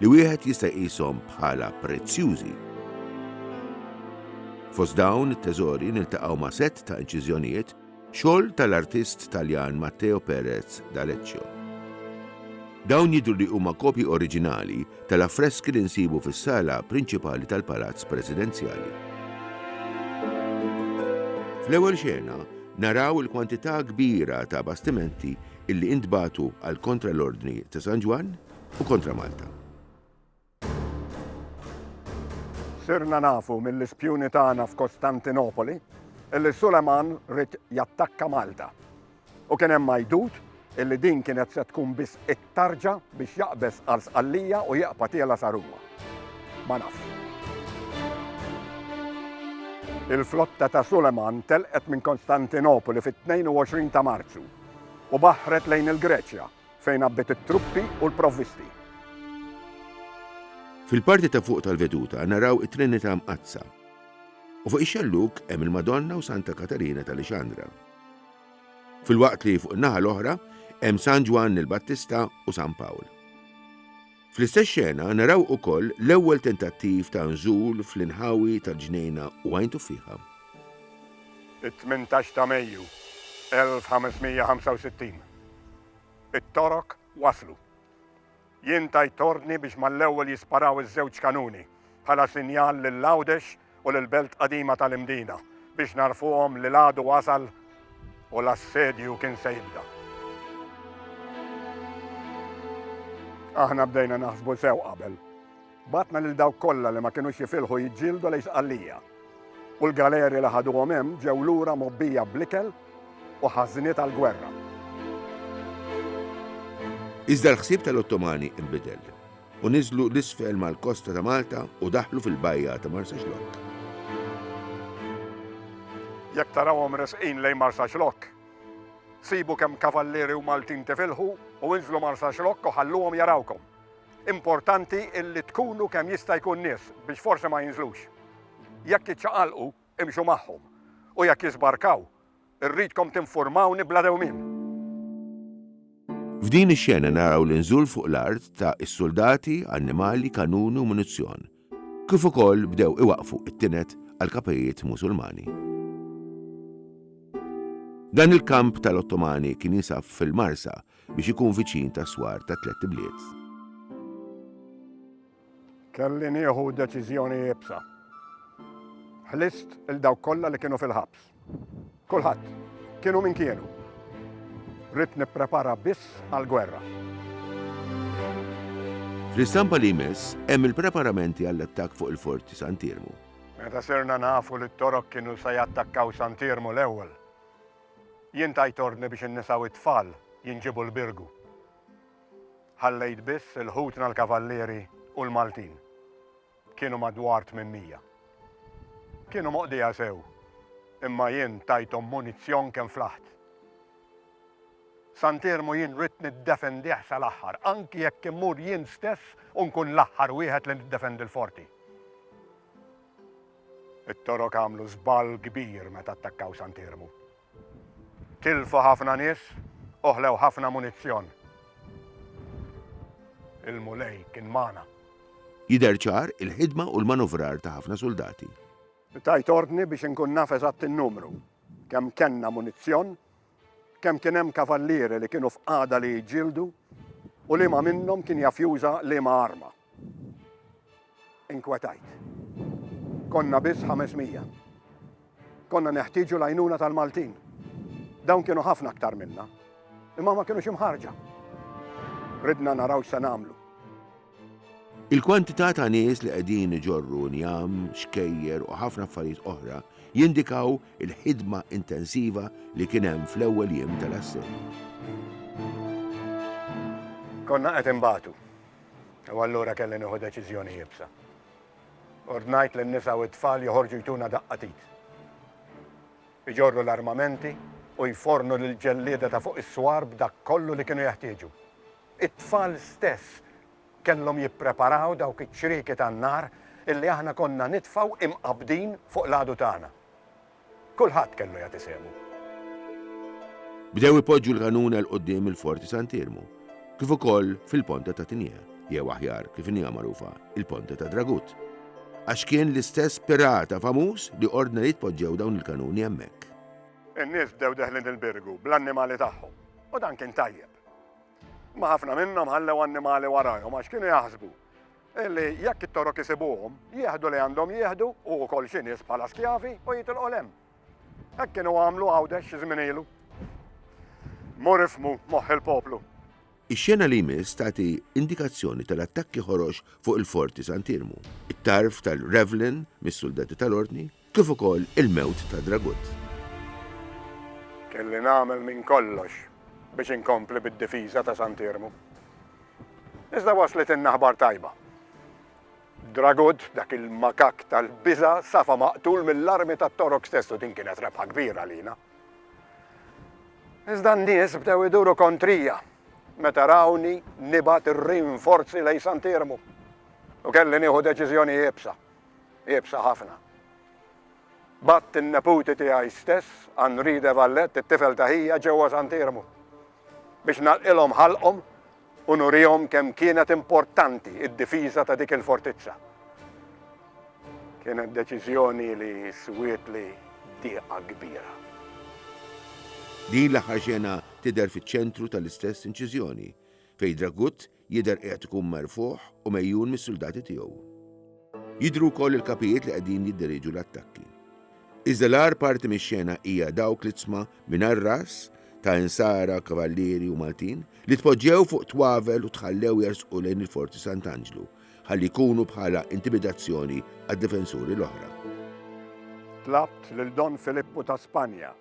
li wieħed jista' jqishom bħala prezzjużi. Fost dawn it-teżori niltaqgħu ma' sett ta' inċiżjonijiet xogħol tal-artist Taljan Matteo Perez d'Aleccio. Dawn jidru li huma kopji oriġinali tal-affreski li nsibu fis-sala prinċipali tal-Palazz Presidenzjali. Fl-ewwel xena naraw il-kwantità kbira ta' bastimenti illi intbatu għal kontra l-Ordni ta' San Ġwann u kontra Malta. Sirna nafu mill-ispjuni tagħna f'Kostantinopoli illi Suleman rid jattakka Malta. U kien hemm majdut illi din kienet se tkun biss it-tarġa biex jaqbeż għal sqallija u jaqpa tiela sa Ruma. Ma nafx. Il-flotta ta' Suleman telqet minn Konstantinopoli fit-22 ta' Marzu u baħret lejn il-Greċja Fejn għabbiet it-truppi u l-provvisti. Fil-parti ta' fuq tal-veduta naraw it-Trinità Mqaddsa. U fuq ix-xellug hemm il-Madonna u Santa Katarina ta' Lixandra. Filwaqt li fuq in-naħa l-oħra hemm San Ġwann il-Battista u San Pawl. Fl-istess xena naraw ukoll l-ewwel tentattiv ta' nżul fl-inħawi tal-ġnejna u Għajn Tuffieħa. It-tmintax ta' Mejju 1565. It-Torok waslu. Jien tajt ordni biex mal-ewwel jisparaw iż-żewġ kanuni bħala sinjal lil Għawdex u lill-belt qadima tal-Imdina biex ngħarrfuhom li l-għadu wasal u l-assedju kien se jibda. Aħna bdejna naħsbu sew qabel. Batna lil dawk kollha li ma kinux jifilħu jiġġieldu lejn Sqallija. U l-galeri li ħaduhom hemm ġew lura mobbija bl-ikel u ħażniet għall-gwerra. Iżda l-ħsieb tal-Ottomani nbidel. u niżlu 'l isfel mal-kosta ta' Malta u daħlu fil-bajja ta' Marsaxlokk. Jekk tarawhom resqin lejn Marsaxlokk, sibu kemm kavallieri u Maltin tifilħu u inżlu Marsaxlokk u ħalluhom jarawkom. Importanti illi tkunu kemm jista' jkun nies biex forsi ma jinżlux. Jekk jiċċaqalqu, imxu magħhom u jekk jiżbarkaw, Irridkom tinfurmawni bla dewmien. F'din ix-xena naraw l-inżul fuq l-art ta' is-suldati, annimali, kanuni u munizzjon, kif ukoll bdew iwaqqfu t-tined għall-kapijiet Musulmani. Dan il-kamp tal-Ottomani kien jinsab fil-Marsa biex ikun viċin tas-swar tat-tlett ibliet. Kelli nieħu deċiżjoni iebsa. Ħlist il dawk kollha li kienu fil-ħabs. Kulħadd, kienu min kienu. Rid nipprepara biss għall-gwerra. Fl-istampa li jmiss hemm il-preparamenti għall-attakk fuq il-Forti Santirmu. Meta sirna nafu li t-Torok kienu se jattakkaw Santirmu l-ewwel, jien tajt ordni biex in-nisa u t-tfal jinġibu l-Birgu. Ħallejt biss il-ħutna l-Kavallieri u l-Maltin. Kienu madwar tmien mija. Kienu moqdija sew, imma jien tajthom munizzjon kemm flaħt. Sant Iermu jien ridt niddefendih sal-aħħar, anki jekk immur jien stess u nkun l-aħħar wieħed li niddefendi l-Forti. It-Torok għamlu żball kbir meta attakkaw Sant Iermu. Tilfu ħafna nies u ħlew ħafna munizzjon. Il-Mulej kien magħna. Jidher ċar il-ħidma u l-manuvrar ta' ħafna suldati. Tajt ordni biex inkun naf eżatt in-numru, kemm kellna munizzjon, kemm kien hemm kavallieri li kienu f'qagħda li jġieldu u liema minnhom kien jaf juża liema arma. Inkwetajt. Konna biss 500. Konna neħtieġu l-għajnuna tal-Maltin. Dawn kienu ħafna aktar minna, imma ma kienux imħarġa. Ridna naraw x'se nagħmlu. Il-kwantità ta' nies li qegħdin iġorru njam, xkejjer u ħafna affarijiet oħra jindikaw il-ħidma intensiva li kien hemm fl-ewwel jiem tal-assedju. Konna qed inbatu. U allura kelli nieħu deċiżjoni iebsa. Ordnajt lin-nisa u t-tfal joħorġu jtuna daqqa t'id. Iġorru l-armamenti u jfornu lill-ġellieda ta' fuq is-swar b'dak kollu li kienu jeħtieġu. It-tfal stess kellhom jippreparaw dawk iċ-ċrieki tan-nar illi aħna konna nitfgħu imqabbdin fuq l-għadu tagħna. Kulħadd kellu jagħti sehmu. Bdew ipoġġu l-għanuna 'l quddiem il-Forti Sant'Iermu, kif ukoll fil-Ponta ta' Tinjie, jew aħjar kif inhiha magħrufa, il-Ponta ta' Dragut, għax kien l-istess pirata famuż li ordna li jitpoġġew dawn il-kanuni hemmhekk. In-nies bdew deħlin il-birgu bl-annimali tagħhom, u dan kien tajjeb. Imma ħafna minnhom ħallew annimali warajhom għax kienu jaħsbu Illi jekk it-Torok isibuhom, jieħdu li għandhom jieħdu, u wkoll xi nies bħala skjavi, u jitilqu 'l hemm. Hekk kienu għamlu Għawdex xi żmien ilu. Mur ifhmu moħħ il-poplu. Ix-xena li jmiss tagħti indikazzjoni tal-attakki Ħorox fuq il-Forti Sant'Iermu. It-tarf tal-Revlin mis-suldati tal-Ordni. kif ukoll il-mewt ta' Dragut. Kelli nagħmel minn kollox biex inkompli bid-difiża ta' Sant Iermu. Iżda waslitnna ħbar tajba. Dragut, dak il-makakk tal-biża' safa maqtul mill-armi tat-Torok stess u din kienet rebħa kbira għalina. Iżda n-nies bdew iduru kontrija meta rawni nibgħat ir-rinforzi lejn Sant Iermu u kelli nieħu deċiżjoni iebsa. iebsa ħafna. Bgħadt in-neputi tiegħi stess, Henri de Valette, it-tifel ta' ħija, ġewwa Sant'Iermu biex nagħlqilhom ħalqhom u nurihom kemm kienet importanti d-difiża ta' dik il-fortizza. Kienet deċiżjoni li swietli dieqa kbira. Din l-aħħar xena tidher fiċ-ċentru tal-istess inċiżjoni, fejn Dragut Jidher qiegħed ikun merfugħ u megħjun mis-suldati tiegħu. Jidhru wkoll il-kapijiet li qegħdin jidderieġu l-attakki. Iżda l-agħar parti mix-xena hija dawk l-izzma mingħajr ras ta' insara, kavallieri u Maltin li tpoġġew fuq twavel u tħallew jersqu lejn il-Forti Sant'Anġlu ħalli jkunu bħala intimidazzjoni għad-difensuri l-oħra. Tlabt lil Don Filippu ta' Spanja,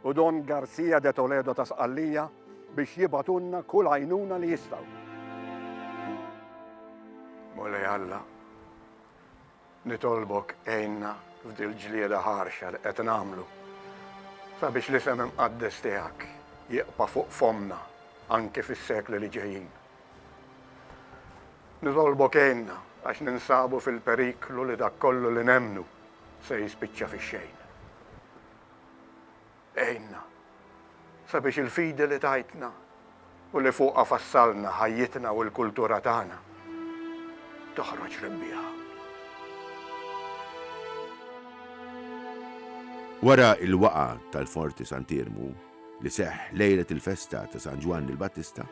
u Don Garcia de Toledo ta' Sqallija biex jibgħatulna kull għajnuna li jistgħu. Mulej Alla, nitolbok għinna f'dil ġlieda ħarxa li qed nagħmlu sabiex li sem imqaddes tiegħek jiqpa' fuq fomna anke fis-sekli li ġejjin. Nitolbok għinna għax ninsabu fil-periklu li dak kollu li nemnu se jispiċċa fix-xejn. Għinna sabiex il-fidi li tajtna u li fuqha fassalna ħajjitna u l-kultura tagħna toħroġ rebbieħa. Wara l-waqgħa tal-Forti Sant'Iermu li seħħ lejlet il-festa ta' San Ġwann il-Battista,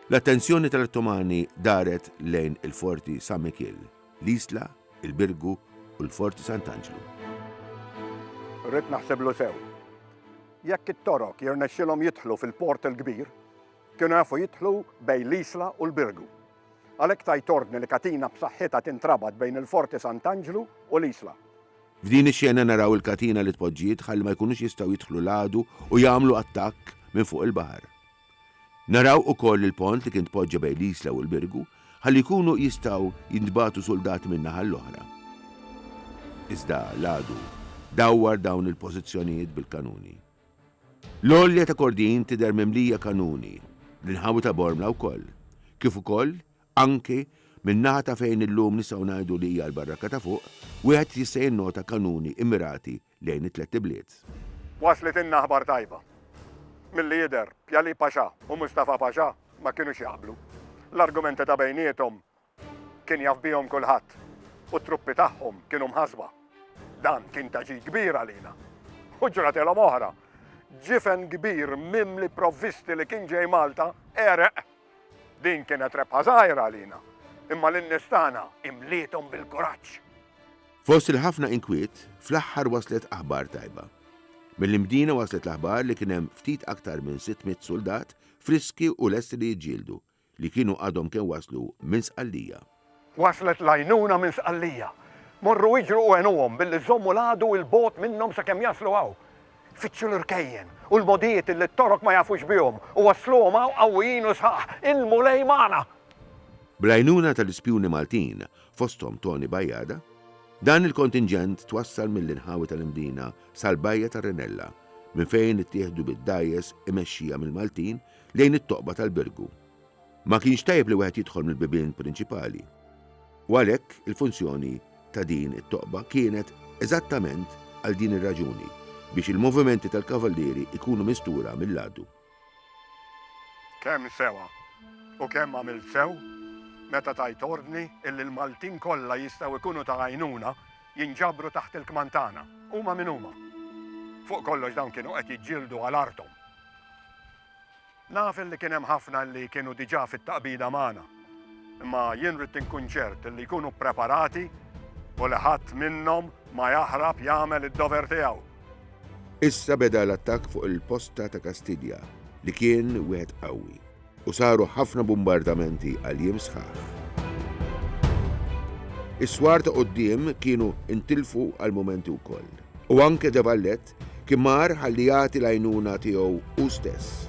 l-attenzjoni tal-Ottomani daret lejn il-Forti San Mikiel, l-Isla il-Birgu u l-Fort Sant'Anġlu. Rrid naħsiblu sew. Jekk it-Torok jirnexxilhom jidħlu fil-Port il-Kbir, kienu jafu jidħlu bejn l-Isla u l-Birgu. Għalhekk tajt ordni li katina b'saħħitha tintrabat bejn il-Forti Sant'Anġlu u l-Isla. F'din ix-xena naraw il-katina li tpoġġiet ħalli ma jkunux jistgħu jidħlu l-għadu u jagħmlu attakk minn fuq il-baħar. Naraw ukoll il-pont li kien tpoġġa bejn l-Isla u l-Birgu ħalli jkunu jistgħu jintbagħtu suldati min-naħa l-oħra. Iżda l-għadu dawwar dawn il-pożizzjonijiet bil-kanuni. L-għolja ta' Kordin tidher mimlija kanuni, l-inħawi ta' Bormla wkoll, kif ukoll, anki, min-naħa ta' fejn illum nistgħu ngħidu li hija l-Barrakka ta' Fuq, wieħed jista' jinnota kanuni immirati lejn it-tlett ibliet. Waslitilna aħbar tajba. Milli jidher, Pjali Paxà u Mustafa Paxà ma kinux jaqblu. L-argumenti ta' bejniethom kien jaf bihom kulħadd u t-truppi tagħhom kienu mħassba. Dan kien ta' ġid kbir għalina. U ġratilhom oħra. Ġifen kbir mimli provvisti li kien ġej Malta għereq. Din kienet rebħa żgħira għalina, imma lin-nies tagħna imliethom bil-kuraġġ. Fost il-ħafna inkwiet, fl-aħħar waslet aħbar tajba. Mill-Imdina waslet l-aħbar li kien hemm ftit aktar minn sitt mitt suldat friski u lesti li jiġġieldu, li kienu għadhom kemm waslu minn Sqallija. Waslet l-għajnuna minn Sqallija. Morru iġru u għenuhom billi żommu l-għadu 'il bogħod minnhom sakemm jaslu hawn. Fittxu l-irkejjen u l-mogħdijiet illi t-Torok ma jafux bihom u wassluhom hawn qawwijin u sħaħ. Il-Mulej magħna! Bl-għajnuna tal-ispjuni Maltin, fosthom Toni Bajada, dan il-kontinġent twassal mill-inħawi tal-Imdina sal-bajja ta' Renella, minn fejn ittieħdu bid-dgħajjes imexxija mill-Maltin lejn it-toqba tal-Birgu. Ma kienx tajjeb li wieħed jidħol mill-bibien prinċipali. U għalhekk il-funzjoni ta' din it-toqba kienet eżattament għal din ir-raġuni, biex il-movimenti tal-kavallieri jkunu mistura mill-għadu. Kemm sewa u kemm għamilt sew meta tajt ordni illi l-Maltin kollha jistgħu jkunu ta' għajnuna jinġabru taħt il-kmand tagħna, huma min huma. Fuq kollox dawn kienu qed jiġġieldu għal arthom. Naf illi kien hemm ħafna illi kienu diġà fit-taqbida magħna. Imma jien ridt inkun ċert illi jkunu ppreparati u li ħadd minnhom ma jaħrab jagħmel id-dover tiegħu. Issa beda l-attakk fuq il-posta ta' Kastilja li kien wieħed qawwi u saru ħafna bumbardamenti għal jiem sħaħ. Is-swar ta' quddiem kienu ntilfu għal mumenti wkoll u anke De Vallet Kien mar ħalli jagħti l-għajnuna tiegħu hu stess.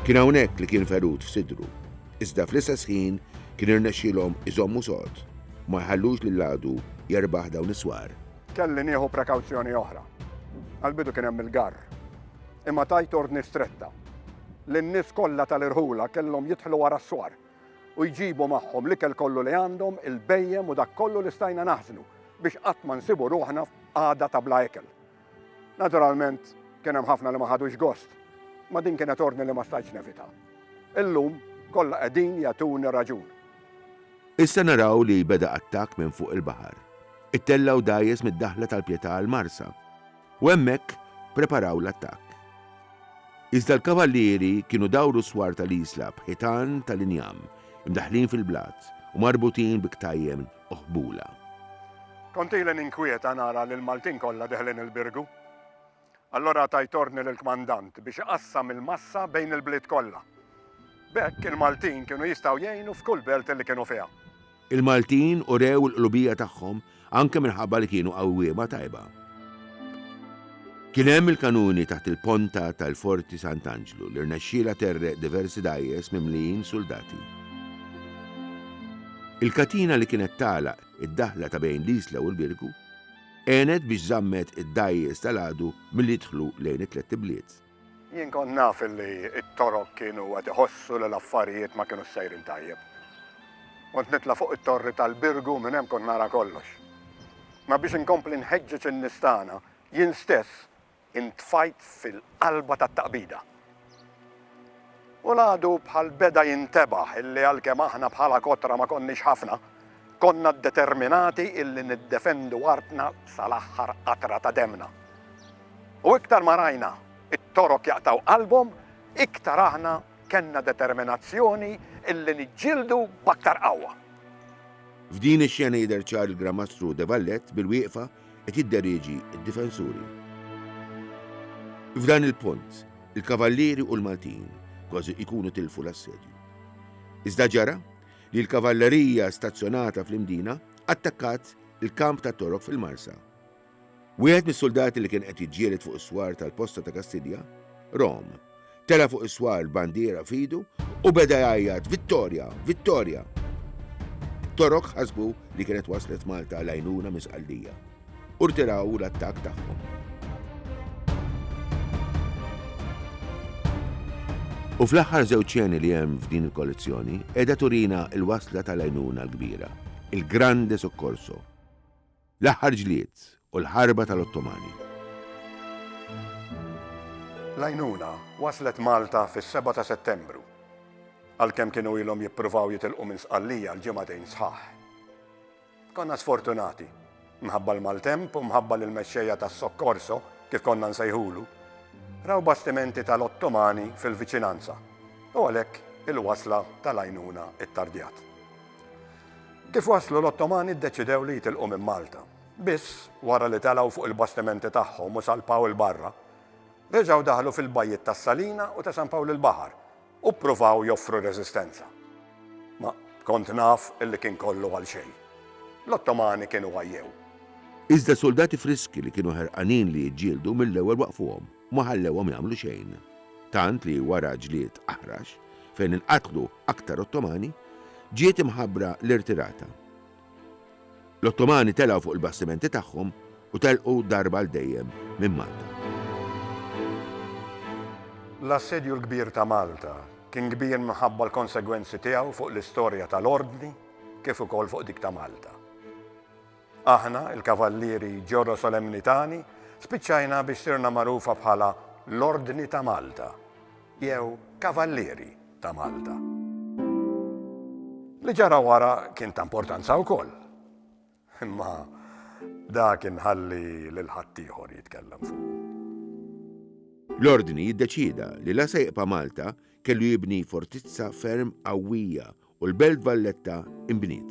Kien hawnhekk li kien ferut f'sidru, iżda fl-istess ħin kien irnexxielhom iżommu sod, ma jħallux li l-għadu jerbaħ dawn is-swar. Kelli nieħu prekawzjoni oħra. Għall-bidu kien hemm il-garr. Imma tajt ordni stretta li n-nies kollha tal-irħula kellhom jidħlu wara s-swar u jġibu magħhom l-ikel kollu li għandhom, il-bhejjem u dak kollu li stajna naħżnu biex qatt ma nsibu ruħna f'qagħda ta' bla ikel. Naturalment, kien hemm ħafna li ma ħadux gost, ma din kienet ordni li ma stajtx nevita. Illum, kollha qegħdin jagħtuni raġun. Issa naraw li beda attakk minn fuq il-baħar. Ittellgħu dgħajjes mid-daħla tal-Pietà għall-Marsa. U hemmhekk preparaw l-attakk. Iżda l-kavallieri kienu dawru s-swar tal-Isla b'ħitan tal-injam, imdaħħlin fil-blat u marbutin bi ktajjen oħbula. Kont ili ninkwieta nara li l-Maltin kollha deħlin il-Birgu. Allura tajt ordni lill-kmandant biex iqassam il-massa bejn il-bliet kollha. B'hekk il-Maltin kienu jistgħu jgħinu f'kull belt li kienu fiha. Il-Maltin urew il-qlubija tagħhom anke minħabba li kienu qawwiema tajba. Kien hemm il-kanuni taħt il-ponta tal-Forti Sant'Anġlu li rnexxielha terreq diversi dgħajjes mimlijin suldati. Il-katina li kienet tagħlaq id-daħla ta' bejn l-Isla u l-Birgu għenet biex żammet id-dgħajjes tal-għadu milli jidħlu lejn it-tlett ibliet. Jien kont naf li t-Torok kienu qed iħossu li l-affarijiet ma kinux sejrin tajjeb. Kont nitla' fuq it-torri tal-Birgu minn hemm kont nara kollox. Ma biex inkompli nħeġġeġ in-nies tagħna, jien stess intfajt fil-qalba tat-taqbida. U l-għadu bħal beda jintebaħ illi għalkemm aħna bħala kotra ma konniex ħafna, Konna ddeterminati illi niddefendu artna sal-aħħar qatra ta' demmna. U iktar ma rajna t-Torok jaqtgħu qalbhom, iktar aħna kellna determinazzjoni illi niġġieldu b'aktar qawwa. F'din ix-xena jidher ċar il-Gran Mastru De Vallet bil-wieqfa qed jidderieġi d-difensuri. F'dan il-punt, il-Kavallieri u l-Maltin kważi jkunu tilfu l-assedju. Iżda ġara? li l-kavallerija stazzjonata fl-Imdina attakkat il-kamp tat-Torok fil-Marsa. Wieħed mis-suldati li kien qed jiġġieled fuq is-swar tal-posta ta' Kastilja, Rom, tela' fuq is-swar b'bandiera f'idu u beda jgħajjat Vittorja! Vittorja! Torok ħasbu li kienet waslet Malta l-għajnuna minn Sqallija. u rtiraw l-attakk tagħhom. U fl-aħħar żewġ xeni li hemm f'din il-kollezzjoni qiegħda turina l-wasla tal-għajnuna l-kbira, il-Grande Soccorso, l-aħħar ġlied u l-ħarba tal-Ottomani. L-għajnuna waslet Malta fis-7 ta' Settembru, għalkemm kienu ilhom jippruvaw jitilqu minn Sqallija l-ġimagħtejn sħaħ. Konna sfortunati, minħabba l-maltemp u minħabba li l-mexxejja tas-soccorso, kif konna nsejħulu, raw bastimenti tal-Ottomani fil-viċinanza u għalhekk il-wasla tal-għajnuna ittardjat. Kif waslu l-Ottomani ddeċidew li jitilqu minn Malta. Biss, wara li telgħu fuq il-bastimenti tagħhom u salpaw 'il barra, reġgħu daħlu fil-bajjiet tas-Salina u ta' San Pawl il-Baħar, u ppruvaw joffru reżistenza. Ma kont naf li kien kollu għal xejn. L-Ottomani kienu għajjew. Iżda suldati friski li kienu ħerqanin li jiġġieldu mill-ewwel waqqfuhom u ma ħallewhom jagħmlu xejn. Tant li wara ġlied aħrax, fejn inqatlu aktar Ottomani, ġiet imħabbra l-irtirata. L-Ottomani telgħu fuq il-bastimenti tagħhom u telqu darba għal dejjem minn Malta. L-Assedju l-Kbir ta' Malta kien kbir minħabba l-konsegwenzi tiegħu fuq l-istorja tal-Ordni kif ukoll fuq dik ta' Malta. Aħna, il-Kavallieri Ġorro Solemnitani, spiċċajna biex sirna magħrufa bħala l-Ordni ta' Malta jew Kavallieri. ta' Malta. Li ġara wara kien ta' importanza wkoll. Imma dak inħalli lil ħaddieħor jitkellem fuqu. L-Ordni ddeċieda li la se jibqa' Malta kellu jibni fortizza ferm qawwija u l-Belt Valletta inbniet.